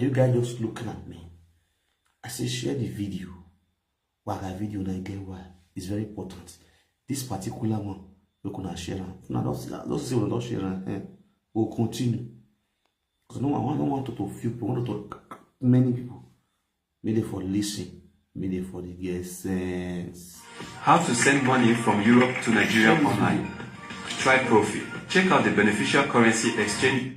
Are you guys just looking at me? I say share the video. Why that video na get why? It's very important. This particular one, we gonna share am. Una don see am. Don see una don share am. Eh? We'll continue. Because no, I don't want to feel, I want to talk many people. Make dem for listen, make dem for dey get sense. How to send money from Europe to Nigeria online. Try Profi. Check out the beneficial currency exchange.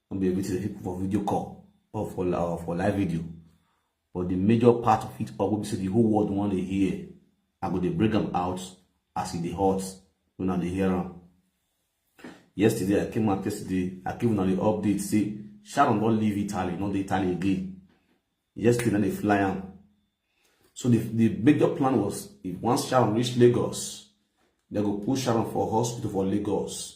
no be everything dey put for video call or for or for live video but the major part of it all wey be say the whole world wan dey hear i go dey break am out as e dey hot when i dey hear am yesterday i came out yesterday i give una the update say sharon don leave italy no dey italy again yesterday na dey fly am so the the major plan was if once sharon reach lagos they go push sharon for hospital for lagos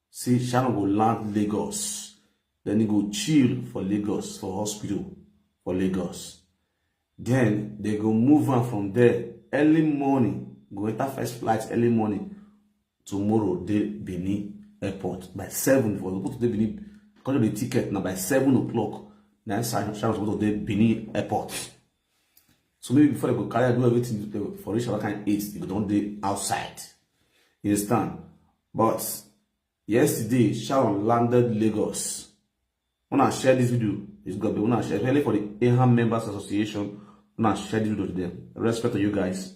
say Sharon go land Lagos, then he go chill for Lagos for hospital for Lagos. Then they go move on from there early morning, go enter first flight early morning tomorrow dey Benin airport by seven for supposed to dey Benin because of the ticket na by seven o'clock na Sharon supposed to dey Benin airport so maybe before they go carry do everything uh, for reach another kind eight they go don dey outside you understand but yesterday sharon landed lagos When I share this video it's gonna be when I share especially for the eham members association When I share this video to them respect to you guys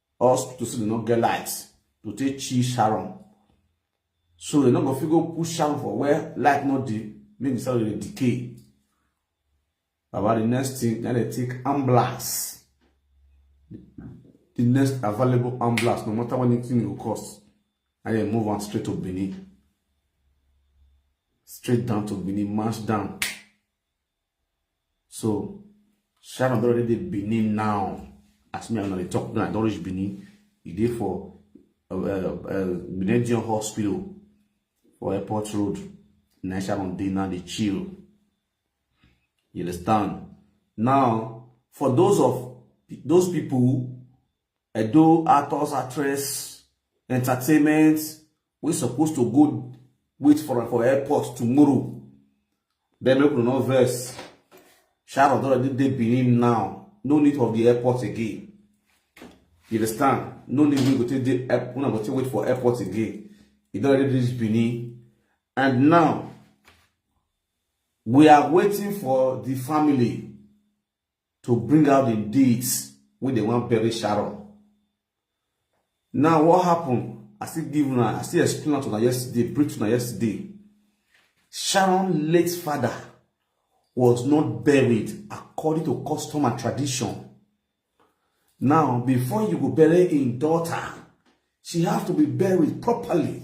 hospital still no get light to take chill sharon so they no go fit go put sharon for where light no dey make the cell dey decay about the next thing na dey take ambulance the next available ambulance no matter what anything e go cost na dey move am straight to benin straight down to benin march down so sharon don already dey benin now as me and i dey talk now i don reach benin e dey for uh, uh, uh, benin general hospital for airport road na sharon dey now dey chill you understand now for those of those people Edo actors, actress, entertainment, we supposed to go wait for am for airport tomorrow. Then make we no vex. Sharon don already dey Benin now. No need of the airport again. You understand? No need we go take dey una go take wait for airport again. E don already reach Benin. And now, we are waiting for the family to bring out the deeds wey dem wan bury Sharon. Now what happen? I still give una, I still explain am to una yesterday, brief to una yesterday. Sharon late father was not buried according to custom and tradition. Now, before you go bury in daughter, she have to be buried properly.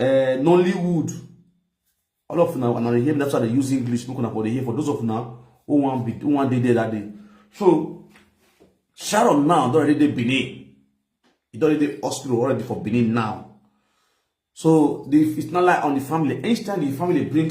uh, nollywood all of now and i hear that's why they use english spoken about the here for those of now who want be who want dey there that day so sharon now don already dey benin e don already dey hospital already for benin now so the it's not like on the family each time the family bring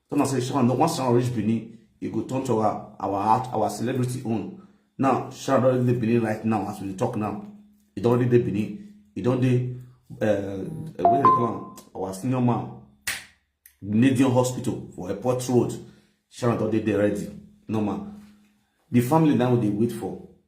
Tell am say Sharon don once Sharon reach Benin, e go turn to our our heart, our celebrity own. Now Sharon don dey Benin right now as we dey talk now. E don already dey Benin. E don dey uh, uh, what do they call am? Our senior man, Grenadian Hospital for Airport Road. Sharon don dey there ready. Normal. The family now dey wait for.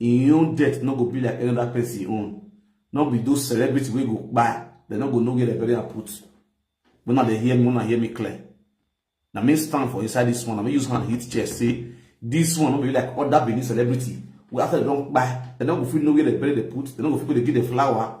im own death no go be like any other person own no be those celebrity wey go kpai dem no go know where dem bury am put when una dey hear me una hear me clear na me stand for inside this one na me use hand hit chest say this one no be like other benin celebrity wey after dem don kpai dem no go fit know where dem bury dem put dem no go fit go dey give dem flower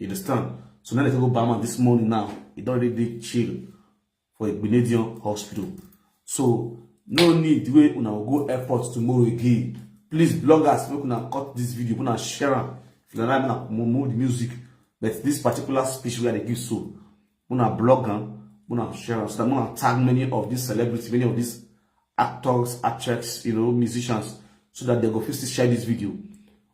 You understand? So now they go Bama this morning now. He don't really chill for a Grenadian hospital. So no need way una go airport tomorrow again. Please bloggers, make una cut this video, una share am. If you like, una move the music. But this particular speech we are give so, una blog am, una share am. So that una tag many of these celebrities, many of these actors, actresses, you know, musicians, so that they go first share this video.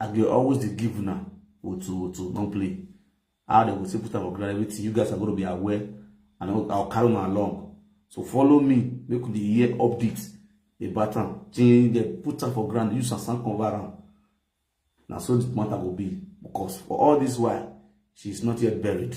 I go always dey give una otu otu don play how they go say put am for ground everything you guys are gonna be aware and I'll, I'll carry una along so follow me make we dey hear updates about am till they put am for ground use sand cover am na so the matter go be because for all this while she is not yet buried.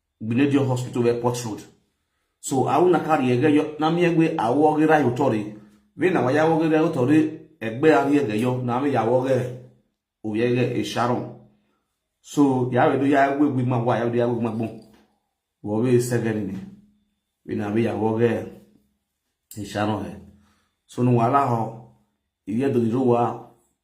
Gbenedio Hospital Airport Road. So awu na kari ege yo na mi egbe awo gira yo tori. We na waya wo gira yo tori egbe ari ege yo na mi ya wo ge o ye ge e Sharon. So ya we do ya egbe egbe ma wa ya do ya egbe ma gbon. Wo we segen ni. We na mi ya wo ge e Sharon he. So no wala ho iye do ro wa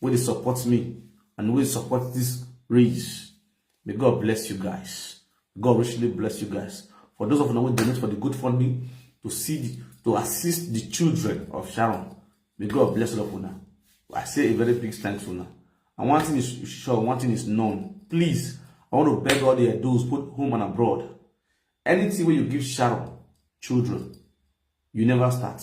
wey dey support me and wey support this race may god bless you guys god richly bless you guys for those of una wey donate for the good funding to see the, to assist the children of sharon may god bless all of una i say a very big thanks una and one thing is sure one thing is known please i want to beg all the edos both home and abroad anything wey you give sharon children you never start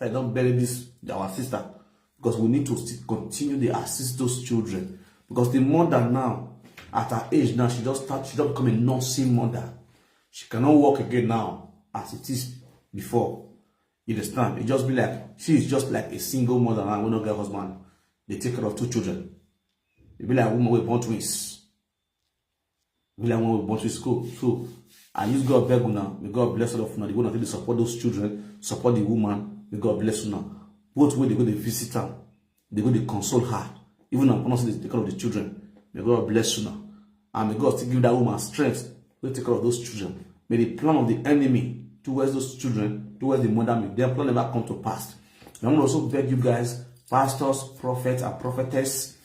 I don't bury this our sister because we need to still continue to assist those children because the mother now at her age now she just start she just become a nursing mother she cannot work again now as it is before you understand it just be like she is just like a single mother now wey no get husband They take care of two children e be like woman wey born twins be like when we born to school so i use god beg una may god bless all of una the way una take dey support those children support the woman may god bless una both wey dey go dey visit am dey go dey console her even na pronounce the care of the children may god bless una and may god still give that woman strength to take care of those children may the plan of the enemy towards those children towards the mother may their plan never come to pass and i wan also beg you guys pastors prophets and prophetess